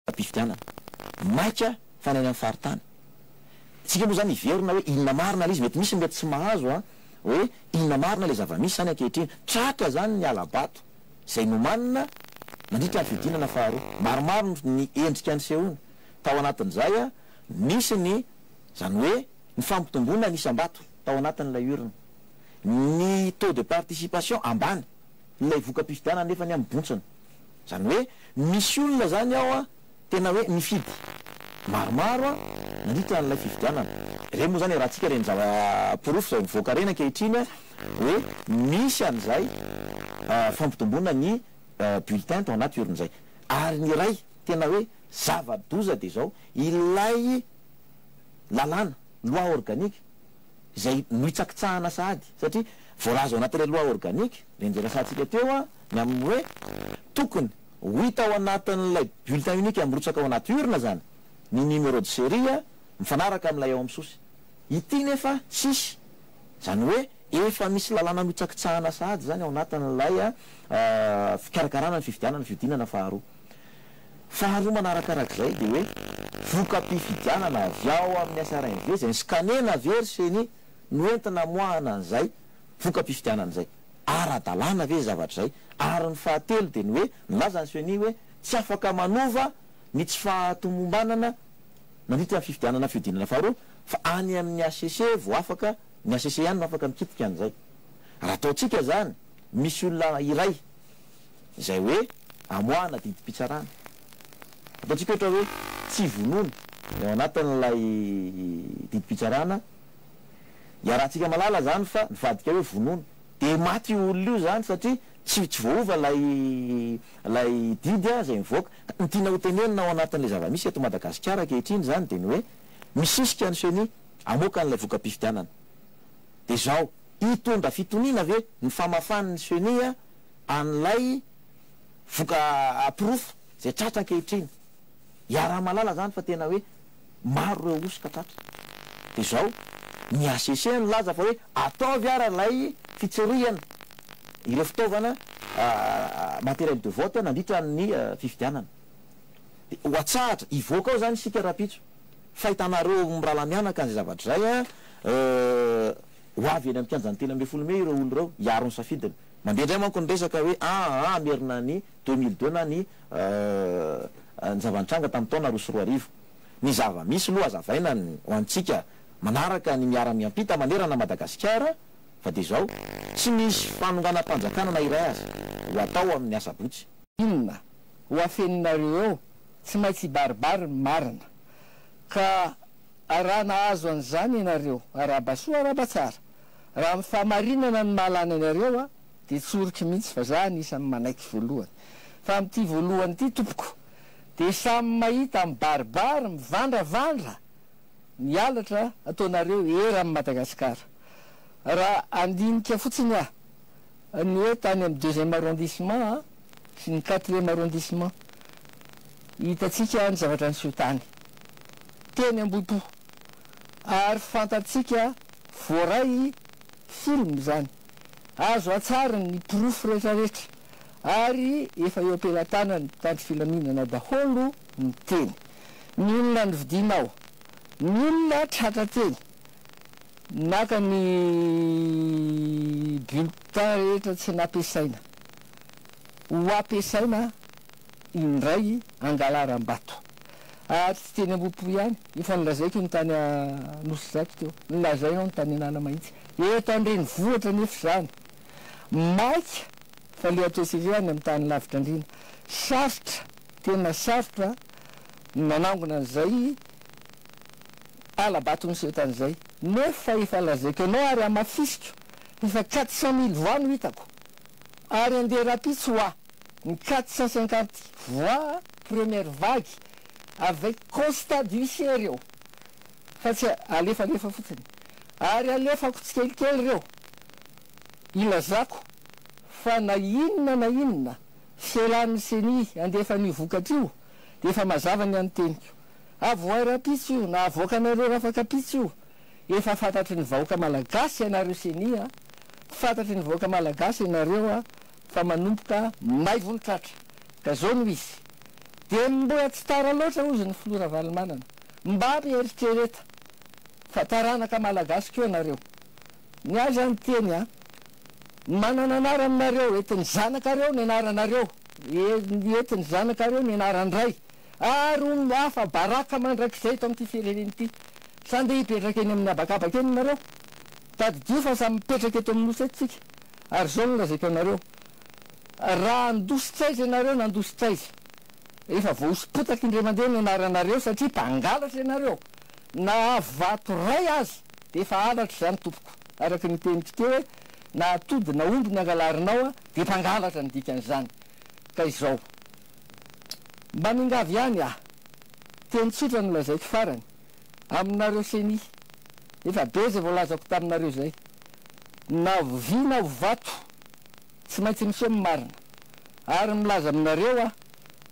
am-pifidianana. Maika fa ny any amin'ny faritany. Tsika moa izany hiverina hoe inona marina ilay izy, mety misy ny mety tsy mahazo an, hoe inona marina ilay zava-misy izany ankehitriny. Tratra izany ny hala-bato izay nomanina nandritra ny fihodinana faharoa. Maromaro ny endrika nisehoana. Tao anatin'izay an, nisy ny, izany hoe ny fampitomboana ny isam-bato tao anatin'ilay urne. Ny taux de participation ambany, ilay voka-pifidianana nefa ny amin'ny bontsina. Zany hoe misy olona zany ao an tena hoe nifidy maromaro an nandritra an'ilay fifidianana. Reny moa zany iarahantsika reny zava porofo izay mivoaka reny ankehitriny an hoe misy an'izay fampitomboana ny bulletin tao anaty urne zay. Ary ny iray tena hoe zava doza dia izao ilay lalàna, loi organique, izay nohitsakitsahana sahady satria voalaza ao anatin'ilay loi organique reny izay resahantsika teo an, Ny amin'ny hoe tokony ho hita ao anatin'ilay bulletin unique mirotsaka ao anaty urne izany ny numéro de série mifanaraka amin'ilay ao amin'ny sosy. Ity nefa tsisy. Izany hoe efa misy lalàna notsakitsahana sahady izany ao anatin'ilay fikarakarana ny fifidianana, fihodinana faharoa. Faharoa manarakarak'izay dia hoe voka-pifidianana avy ao amin'ny SRMV izay scanner-na avy eo ry ceni no entina amoahana an'izay voka-pifidianana izay. ara-dalàna ve izay zavatra izay? Ary ny fahatelo dia ny hoe, nilaza ny Ceni hoe tsy afaka manova ny tsy fahatomombanana nandritra ny fifidianana fihodinana faharoa fa any amin'ny hcc vao afaka, ny hcc ihany no afaka mikitika an'izay. Raha ataontsika izany, misy olona iray izay hoe amoahana didim-pitsarana. Ataontsika ohatra hoe tsy vonona ny ao anatin'ilay didim-pitsarana Iarahantsika malala zany fa nivadika hoe vonono de maty io olona io zany satria tsy tsy voaova lay lay didy a zay mivoaka. Ka ny tiana hotenenina ao anatin'le zava-misy eto Madagasikara ankehitriny zany de ny hoe misisika ny ceni hamoaka an'ilay voka-pifidianana. De zao, hitondra fitoniana ve ny famafan'ny ceni an'ilay voka porofo zay tratra ankehitriny? Iaraha-malala zany fa tena hoe. Maro ireo hosoka tratra. Dia izao, ny HCC nilaza fa hoe ataovy ara ilay fitsirihana ireo fitaovana matériel de vote nandritra ny fifidianana. Dia ho atsahatra, hivoaka ao izany isika rahampitso fa hitanareo mirahalahy mianaka an'izay zavatra izay an, ho avy eny amin'ny kianjan'ny telo ambin'ny folo mey ireo olona ireo hiaro ny safidiny. Mandeha indray manko ny resaka hoe aa Merina ny Deux mille deux na ny ny zava-nitranga tamin'ny taona roa sy roa arivo. Ny zava-misy loha azavaina ny ho antsika manaraka ny miara-miampita manerana Madagasikara fa dia izao, tsy misy fanonganam-panjakana na iray aza ho atao amin'ny asabotsy. Inona ho afeninareo eo? Tsy maintsy hibaribary ny marina. Ka raha nahazo an'izany ianareo, aràba soa aràba tsara. Raha amin'ny fahamarinana ny mahalany anareo, Dia tsoriko mihitsy fa za anisan'ny manaiky voalohany. Fa amin'ity voalohany ity tompoko dia samy mahita mibaribary mivandravandra ny halatra ataonareo eran'i Madagasikara. Raha handinika fotsiny aho ny hoe tany amin'ny deuxième arrondissement sy ny quatrième arrondissement, hitantsika ny zavatra niseho tany, teny Ambohipo, ary fantantsika voaray film izany. Azo an-tsary ny porofo rehetrarehetra ary efa eo am-pelatanan'ny mpitandro filaminana daholo ny teny. Ny olona novidianao, ny olona tratra teny, naka ny bulletin rehetra tsy nampiasaina, ho ampiasaina indray angalaram-bato. Ary tsy teny Ambohipo ihany, efa nolazaiko ny tany Anosizato teo, nolazainao ny tany Analamahitsy. Eto an-drenivohitra anefa izany maika fa le ataontsika any amin'ny tany lavitra andriana sarotra tena sarotra ny manangona an'izay hala-bato niseho tany izay nefa efa lazaiko anao ary hamafisiko efa quatre cent mille voix no hitako ary andeha rapitso hoa ny quatre cent cinquante voix première vague avec constat d'huissier reo fa tsy alefalefa fotsiny, ary alefako tsikelikely ireo ilazako fa na inona na inona fialan'ny ceni handefa an'io vokatra io dia efa mazava ny an'ny teniko, avohay rapitso io na avoakanareo rafakapitso io, efa fantatry ny vahoaka malagasy ianareo ceni a, fantatry ny vahoaka malagasy ianareo a, fa manomboka maivo ny tratra ka zao no izy dia mbola tsy tara loatra ozy ny filoha Ravalomanana mba mieritrereta fa taranaka malagasy koa nareo ny ahy zany teny a manana anarany nareo entiny zanakareo ny anaranareo entiny zanakareo ny anaran-dray ary ho afa baraka mandrakizay eto amin'ity firenena ity sa ndeha hipetraka eny amin'ny habakabaka eny nareo tadidio fa samy mipetraka eto amin'ny nosy eto tsika Ary izao no lazaiko anareo, Raha handosy tsaiza ianareo na handosy tsaiza, efa voahosy potaky indray mandeha ny anaranareo, satria mpangalatra ianareo, na vato iray aza, dia efa halatra izany tompoko, araka ny teniko teo hoe, na atody na omby ny angalarinao, dia mpangalatra ny dikan'izany. Ka izao, mba mingavy ihany aho, teny tsotra no lazaiko farany, aminareo ceni. Efa be zay voalazako taminareo zay. Na vy na vato tsy maintsy miseho ny marina. Ary milaza aminareo aho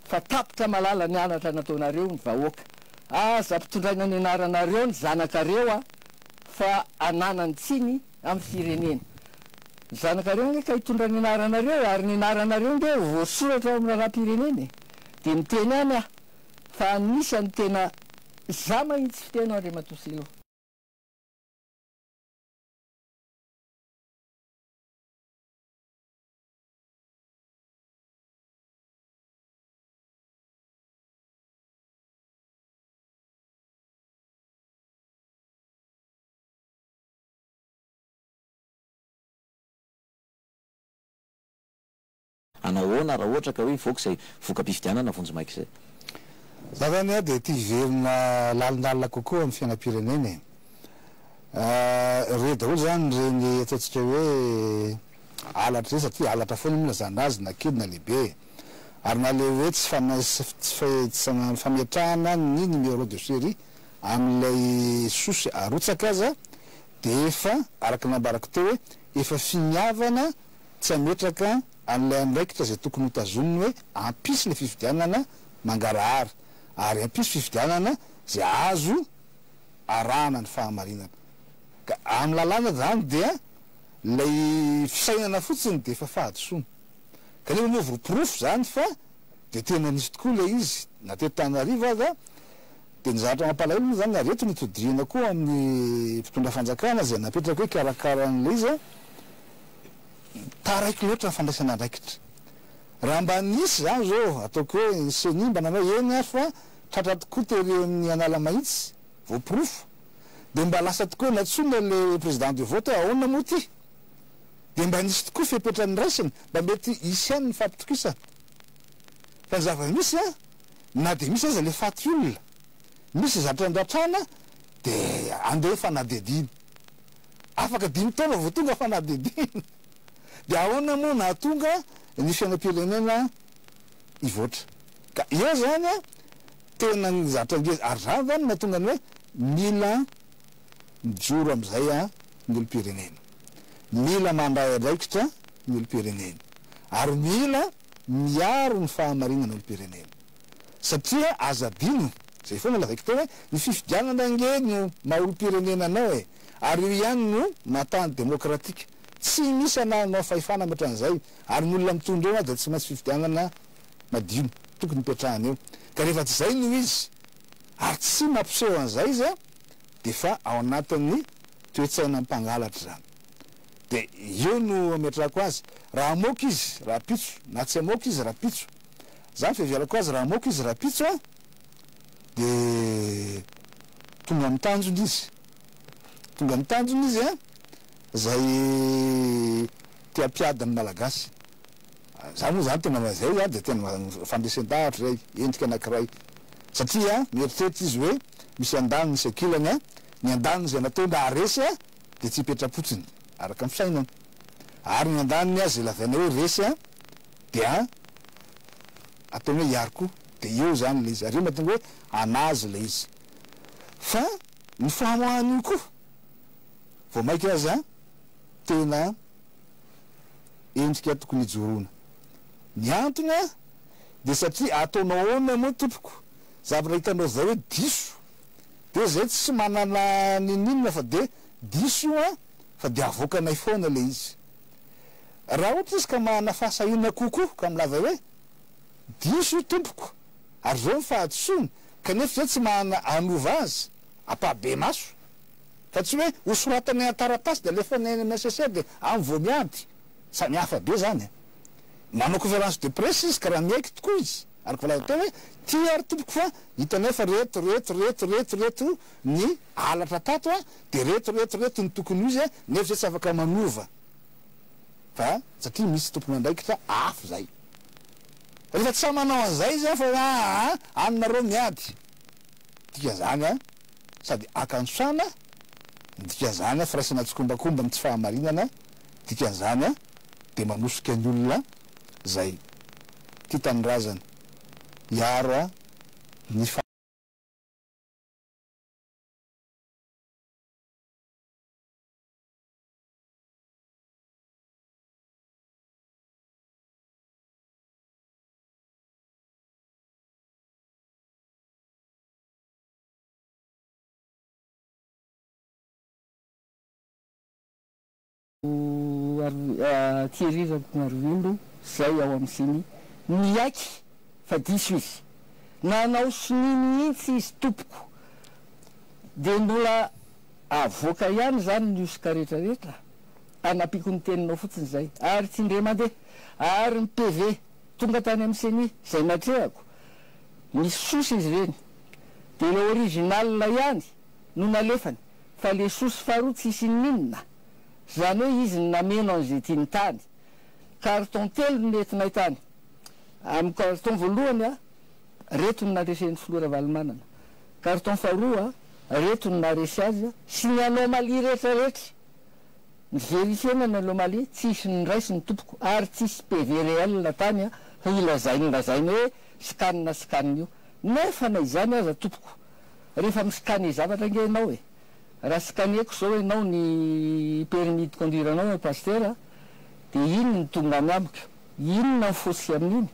fa tapitra malala ny anatra nataonareo ny vahoaka. Aza ampitondraina ny anaranareo ny zanakareo a fa ananany tsiny amin'ny firenena. Ny zanakareo ange ka hitondra ny anaranareo ary ny anaranareo nge voasoratra ao amin'ny raharaham-pirenena e. Dia miteny ihany aho. fa anisany tena za mahintsy fiteny Andriamatoa Silo. Hanao ahoana raha ohatra ka hoe hivoaka izay voka-pifidianana vonjimaika izay? Za zany a dia tia hiverina lalindalina kokoa amin'ny fiainam-pirenena e. Re daholo zany ireny ataontsika hoe halatra ireny satria halatra foana moa na zandry azy na kely na lehibe e. Ary na le hoe tsy fanasana tsy fametrahana ny numéro de serie amin'ilay sosy arotsaka aza dia efa araka ny nambarako teo hoe efa finiavana tsy hametraka an'ilay andraikitra izay tokony hotazoniny hoe hampisy ilay fifidianana mangarahara ary hampisy fifidianana izay azo arahana ny fahamarinana. Ka amin'ny lalàna izany dia ilay fisainana fotsiny dia efa fahadisoana. Kanefa moa voaporofo izany fa dia tena nisy tokoa ilay izy na teto Antananarivo aza. Dia ny zavatra mampalahelo moa izany ary eto no itodihana koa amin'ny mpitondra fanjakana izay napetraka hoe hikarakara an'ilay izy an, taraiky loatra ny fandraisana andraikitra. Raha mba nisy izany izao, ataoko hoe ny ceni mba nanao eny ary fa tratra tokoa tery amin'ny Analamahitsy, voaporofo, dia mba lasa tokoa hoe nantsoina ilay président de vote hoe ahoana moa ity? Dia mba nisy tokoa fepetra niraisina, mba mety hisy ihany ny fampitokisana. Fa ny zava-misy an! na dia misy aza le faty olona, misy zatra andratrana de andeha fanadihadiana. Afaka dimy taona vao tonga fanadihadiana. De ahoana moa nahatonga ny fiainam-pirenena hivoatra. Ka eo zany an, tena ny zatra ngeza, ary zany zany no mahatonga ny hoe mila mijoro amin'izay an ny olom-pirenena. Mila mandray andraikitra ny olom-pirenena. Ary mila. miaro ny fahamarinana olom-pirenena. Satria aza adino, izay foana lazaiko teo hoe ny fifidianana ange no maha olom-pirenena anao e! Ary io ihany no maha tany demokratika. Tsy misy anaranao fahefana ankotran'izay, ary ny olona mitondra eo aza tsy maintsy fifidianana madio no tokony hipetrahany eo. Ka rehefa tsy izay no izy, ary tsy mampiseho an'izay izy, dia efa ao anatin'ny toe-tsaina mpangalatra izany. dia eo no ametrahako azy raha hamoaka izy rahampitso na tsy hamoaka izy rahampitso, zany fiheverako azy raha hamoaka izy rahampitso an! dia tonga amin'ny tanjony izy, tonga amin'ny tanjony izy an! izay te hampiady ny Malagasy, za moa zany tena ma zay zany dia tena fandresen-dahatra izay, endrika anankiray satria mieritreritra izy hoe misy andaniny sy ankilany an! ny andaniny izay nataony raha resy an! dia tsy hipetra-potsiny araka ny fisainany. Ary ny andaniny aza izay lazaina hoe resy dia ataony hoe hiary koa. Dia eo izany ilay izy. Ary io mahatonga hoe an'azy ilay izy. Fa ny famoahan'io koa vao mainka aza tena endrika tokony hijoroana. Ny antony dia satria ataonao ahoana moa tompoko zavatra hitanao izao hoe diso? de zay tsy manana ninoninona fa de diso io an fa de avoakanay foana le izy raha ohatra izy ka manana fahasahiana kokoa ka milaza hoe diso io tompoko ary zao ny fahadisoany kanefa izay tsy manana hanova azy ampabemaso fa tsy hoe ho soratanay an-taratasy de alefanay any amin'ny HCC de any vao miady samy hafa be zany e manao conférence de presse izy ka raha miaiky tokoa izy Araka voalaza teo hoe, Tia ry tompoko fa hita anefa reto, reto, reto, reto, reto ny halatra tato a, dia reto, reto, reto ny tokony ho izy nefa izay tsy afaka manova fa satria misy tompon'andraikitra afo izay. Rehefa tsy sahy manao an'izay izy a fa hoe aa any nareo miady dikazagna sady akantrana, dikazagna firaisana tsikombakomba amin'ny tsy fahamarinana, dikazagna dia manosika ny olona zay ty tanindrazana miaro a ny Thierry Rakotoarivondo zay ao am siny niaiky fa diso izy nanao sonia mihitsy izy tompoko de mbola avoaka ihany zany ny hosoka rehetra rehetra anapiko ny teninao fotsiny zay ary tsindre mande ary ny PV tonga tany am ceni zay natrehako misy sousy izy reny de le original ihany no nalefany fa le sousy faharoa tsisy inona inona. Izany hoe izy no nameno an'izay tiany tany. Carton telo no nentinay tany. Amin'ny carton voalohany, reto no naresy ny filoha Ravalomanana. Carton faharoa, reto no naharesy azy sy ny anomalie rehetra rehetra. Ni-verifier-na ny anomalie, tsisy niraisy ny tompoko ary tsisy PV réel tany ho ilazainy lazainy hoe scan scan io. Nefa na izany aza tompoko, rehefa mi-scanner zavatra ange ianao e! Raha scanner-ko zao enao ny permis de conduire anao Pastera de inona no tonga any amiko? Inona ny fotsy amin'iny?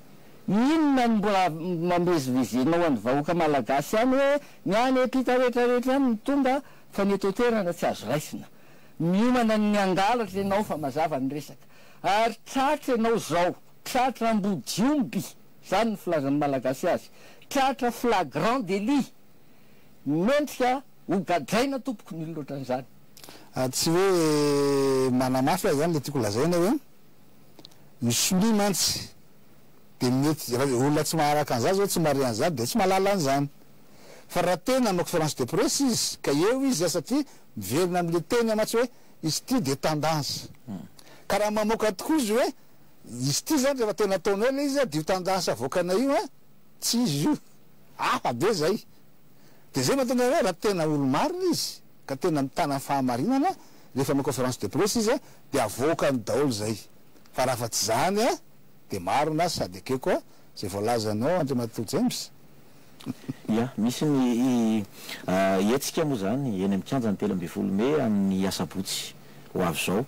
Inona no mbola mamezivezenao an'ny vahoaka Malagasy any hoe ny any ampita rehetra rehetra any no tonga fa ny eto an-toerana tsy azo raisina? Miomana ny hangalatra enao fa mazava ny resaka. Ary tratra enao zao, tratra ambodiomby, zany ny filazan'ny Malagasy azy, tratra flagrant délit. Mendrika hogadraina tompoko ny olona ohatran'izany. Tsy hoe manamafy azy zany le tiako lazaina hoe ny sonia mantsy de mety raha olona tsy maharaka an'izany zao tsy mahare an'izany de tsy mahalala an'izany fa raha te nanao conférence de presse izy ka eo izy satria miverina amle teny mantsy hoe izy ity de tendance ka raha mamoaka tokoa izy hoe izy ity zany rehefa tena ataonao le izy dia io tendance avoakanay io Tsy izy izy io. Hafa be izay. Dia izay mahatonga anay raha tena olo-marina izy, ka tena mitana fahamarinana, rehefa manao conférence de presse izy dia avoakany daholo izay. Fa raha afa-tsy izany dia marina sady ekeko izay voalazanao Andriamatoa James. Ia, misy ny hetsika moa izany eny amin'ny kianjan'ny telo ambin'ny folo mey amin'ny asabotsy. ho avy izao.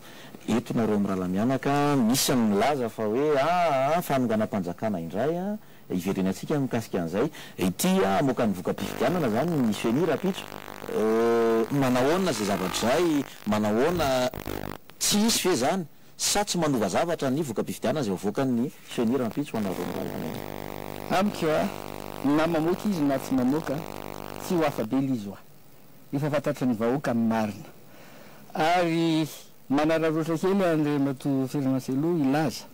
Eto nareo mirahalahy mianaka, misy ny milaza fa hoe aa fanonganam-panjakana indray an, hiverena antsika ny mikasika an'izay. Ity hamoaka ny voka-pifidianana izany ny Ceni rahampitso. Manahoana izay zavatra izay? Manahoana? Tsy hisy ve izany? Sa tsy manova zavatra ny voka-pifidianana izay hoavoakan'ny Ceni rahampitso ho anareo mirahalahy mianaka? Amiko an, na mamoaka izy na tsy mamoaka, tsy ho afa-bela izy hoa. Efa fantatry ny vahoaka ny marina. Ary manararaotra kely Andriamatoa Ferdinand Cello hilaza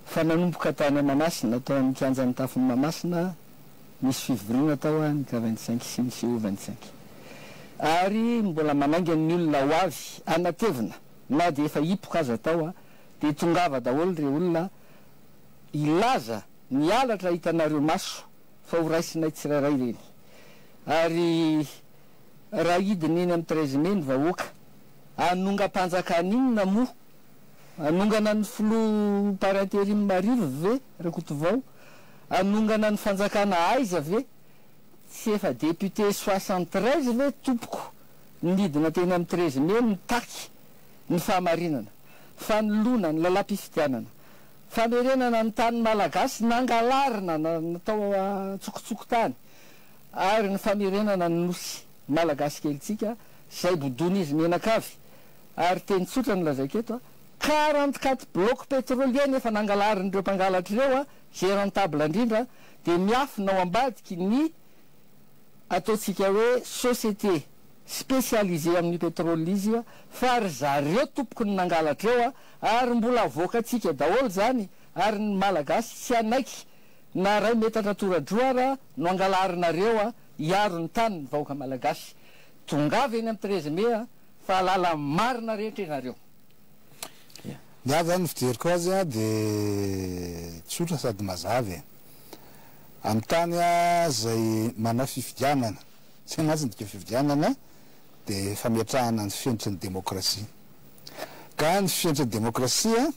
fa nanomboka tany Manasina, tao amin'ny kianjan'ny tafon'i Mahamasina, nisy fivoriana tao an, ka vingt cinq sy ny siho vingt cinq. Ary mbola manainga ny olona ho avy hanatevina na dia efa hipoka aza tao an, dia tongava daholo re olona hilaza ny halatra hitanareo maso, fa ho raisinay tsirairay ireny. Ary raha hidina eny amin'ny treize mai ny vahoaka, hanongam-panjakana inona moa? Hanongana ny filoha par interim marivo ve Rakotovao? Hanongana ny fanjakana aiza ve? Tsy efa députés soixante treize ve tompoko no nidina teny amin'ny treize mai nitaky ny fahamarinana, fanoloana ny lalam-pifidianana? Famerenana ny tany malagasy nangalarina na natao an-tsokotsokontany ary ny famerenana ny nosy malagasy kelintsika izay bodoin'izy mianakavy ary teny tsotra no lazaiko eto a! quarante quatre blocs pétroliers nefa nangalarin'ireo mpangalatra ireo a! izay rentable indrindra dia miafina ao ambadiky ny ataontsika hoe société spécialisée amin'ny pétrole izy fa ry zareo tompoko ny nangalatra eo a! Ary mbola avoakantsika daholo izany ary ny Malagasy tsy hanaiky na iray metatra toradroa ara no angalarinareo a, hiaro ny tany ny vahoaka Malagasy. Tongava eny amin'ny treize mai a, fa halala ny marina rehetra ianareo. Ya. Ny ahy zany ny fijeriko azy a de tsotra sady mazava e. Amin'ny tany a zay manao fifidianana, zay mantsy ny dika fifidianana de fametrahana ny fenitry ny demokrasia. Ka ny fenitra demokrasia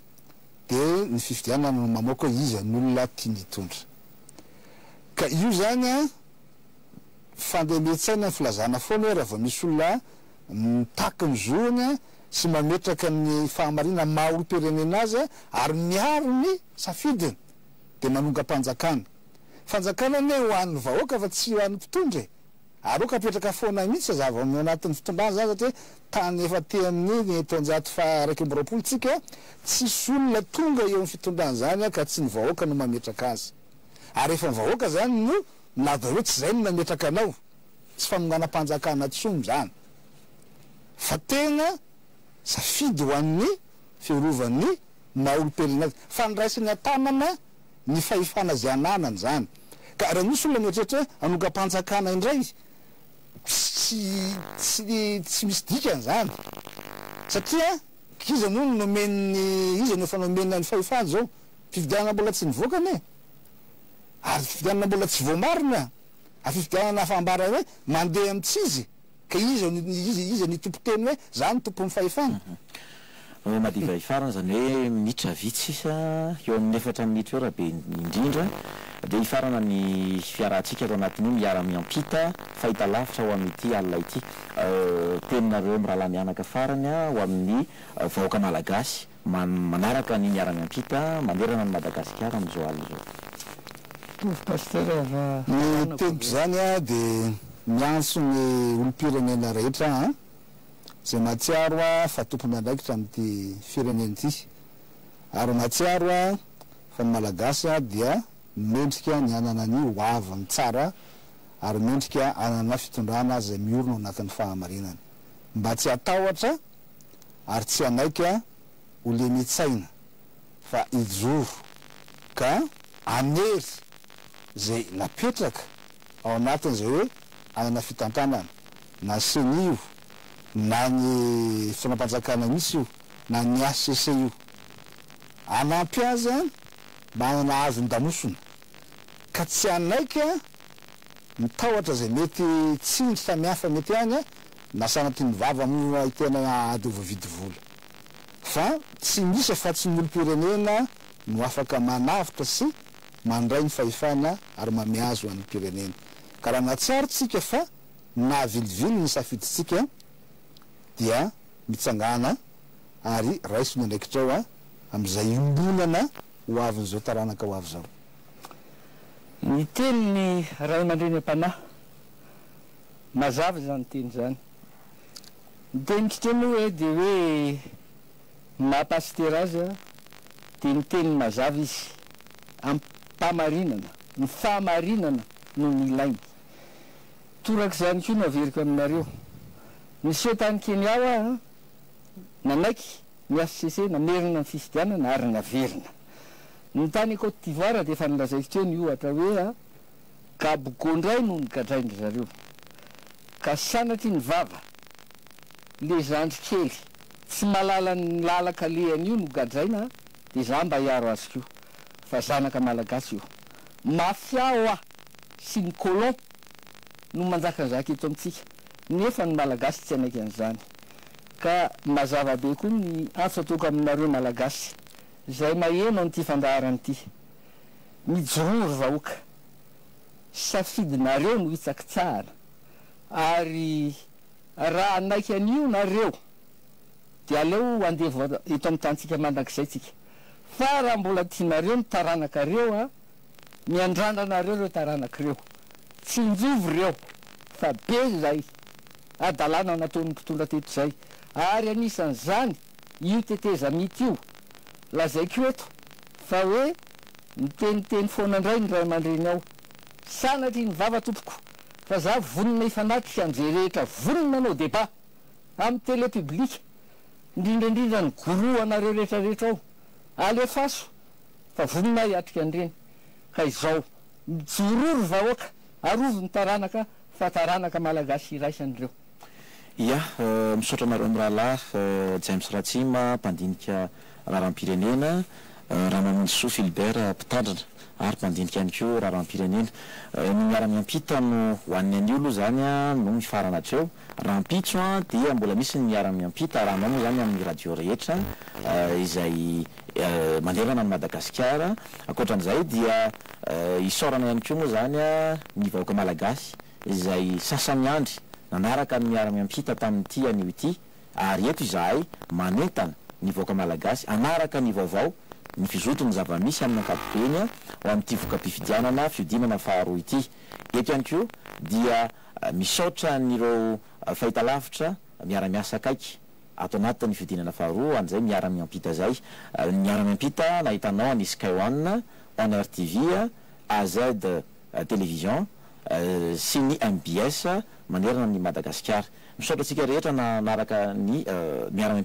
dia ny fifidianana no mamoaka hoe iza ny olona tiany hitondra. Ka io izany an, fandemen-tsaina ny filazana foana hoe raha vao misy olona mitaky ny zony an, sy mametraka ny fahamarinana maha olom-pirenena azy an, ary miaro ny safidiny dia manongam-panjakana. Fanjakana anie ho an'ny vahoaka fa tsy ho an'ny mpitondra e! Ary ok apetraka foana mihitsy ny zava ao anatin'ny fitondrana zany satria tany efa aty amin'ny taonjato faha iraika amby roapolo tsika tsisy olona tonga eo amin'ny fitondrana zany ka tsy ny vahoaka no mametraka azy ary efa ny vahoaka zany no milaza hoe tsy zay no nametraka anao tsy fanonganam-panjakana tsony zany fa tena safidy ho an'ny fiarovan'ny maha olom-pirenena fandraisany an-tanana ny fahefana izay ananany izany. Ka raha misy olona mieritreritra hoe hanongam-panjakana indray, tsy tsy misy dikany izany. Satria iza moa no nomen'ny, iza no efa nomena ny fahefana izao? Fifidianana mbola tsy nivoaka anie. Ary fifidianana mbola tsy voamarina. Ary fifidianana efa ambara hoe mandeha amints'izy. Ka iza no iza iza ny tompo teny hoe za no tompon'ny fahefana? Manao madivay farany zany hoe minitra vitsy sisa eo amin'ny efatra minitra eo raha be indrindra dia hifarana ny fiarahantsika ato anatin'io miara miampita fahitalavitra ho amin'ity alina ity teninareo mirahalahy mianaka farany ho amin'ny vahoaka malagasy. Manaraka ny miara-miampita manerana an'i Madagasikara amin'izao alina izao. Mitovy Pasteur fa Ny tebiko izany dia miantso ny olom-pirenena rehetra aho an, izay mahatsiaro aho fa tompony andraikitra amin'ity firenena ity, ary mahatsiaro aho fa ny Malagasy dia mendrika ny hanana ny ho aviny tsara ary mendrika hanana fitondrana izay miorina ao anatin'ny fahamarinana, mba tsy hatahotra ary tsy hanaiky ho lemitsaina fa hijoro ka hanery izay napetraka ao anatiny izay hoe hanana fitantanana na ny ceni io na ny fitondram-panjakana mihitsy io na ny hcc io hanampy azy mba hanana hazon-damosina ka tsy hanaiky ny tahotra izay mety tsindry samihafa mety any Na sanatin'ny vava moa i tena ady ho voavidy vola. Fa tsy misy afa-tsy ny olom-pirenena no afaka manavotra sy mandray ny fahefana ary mameazy ho an'ny mpirenena. Ka raha nahatsiaro tsika fa nahavilivily ny safidintsika dia mitsangàna ary raiso ny andraikitrao amin'izay iombonana ho avin'izao taranaka ho avy izao. Niteny ny Ray aman-dreny am-panahy Mazava izany teny izany. Ny teniko teo moa hoe dia hoe ny maha pasitera azy dia ny teniny mazava izy. Amim-pahamarinana. Ny fahamarinana no nilainy. Toraka izany koa no averiko aminareo. Niseho tany Kenya aho an, nanaiky ny hcc namerina ny fifidianana ary naverina. Ny tany Côte d'Ivoire dia efa nilazaiko teo ny ohatra hoe Gabogo ndray no nogadraindry zareo ka sanatry ny vava le zandry kely tsy malala ny lalaka lehany io no gadraina de za mba hiaro azy ko fa zanaka malagasy io mafia oa sy ny colon no manjaka ny zaka eto amitsika nefa ny malagasy tsy hanaiky anizany ka mazava be ko ny antso ataoko aminareo malagasy zay maheno anity fandaharana ity Mijoroa ry vahoaka, safidinareo no hitsakitsahana ary raha hanaiky an'io nareo dia aleo andevo eto amin'ny tanintsika mandrakizay tsika fa raha mbola tianareo ny taranakareo a, miandrandranareo ireo taranaka ireo, tsinjovy ireo fa be izay hadalana nataon'ny mpitondra teto izay ary anisan'izany io tetezamita io. Lazaiko eto fa hoe miteniteny foana indray ny ray aman-dreny ao. Sanatria ny vava tompoko fa za vonona hifanatrika an'izay rehetra vonona hanao débat amin'ny télé publique, indrindra indrindra ny guru anareo rehetra rehetra ao. Alefaso fa vonona aho hiatrika an'ireny. Ka izao, mijoroa ry vahoaka, arovy ny taranaka fa taranaka malagasy iraisana ireo. Ia, misaotra anareo mirahalahy, James Ratsima, mpandinika raharaham-pirenena, Ramamonjisoa Philbert, mpitandrina ary mpandinika ihany koa raharaham-pirenena. Ny miara-miampita no ho an'ny anio aloha izany no mifarana hatreo. Rahampitso dia mbola misy ny miara-miampita arahanao moa izany amin'ny radio rehetra izay manerana an'i Madagasikara. Ankoatra an'izay dia isaorana ihany koa moa izany ny vahoaka malagasy izay sasany andry nanaraka ny miara-miampita tamin'ity anio ity ary eto izahay manentana ny vahoaka Malagasy hanaraka ny vaovao ny fizoton'ny zava-misy amin'ny ankapobeny ao amin'ity voka-pifidianana fihodinana faharoa ity. Eto ihany koa dia misaotra an'ireo fahitalavitra miara-miasa akaiky ato anatin'ny fihodinana faharoa an'izay miara-miampita izay. Ny miara-miampita nahitanao an'i Sky One, One Air TV, AZ. Télévision, sy ny mbs manerana an'i Madagasikara. Misaotra antsika rehetra nanaraka ny miara.